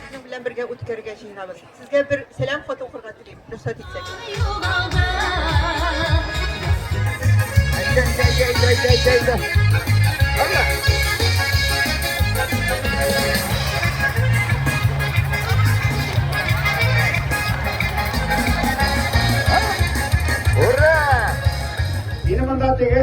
Сезнең белән бергә үткәрергә җыенабыз. Сезгә бер сәлам хаты укырга телим, рөхсәт итсәк. Ура! Минем монда теге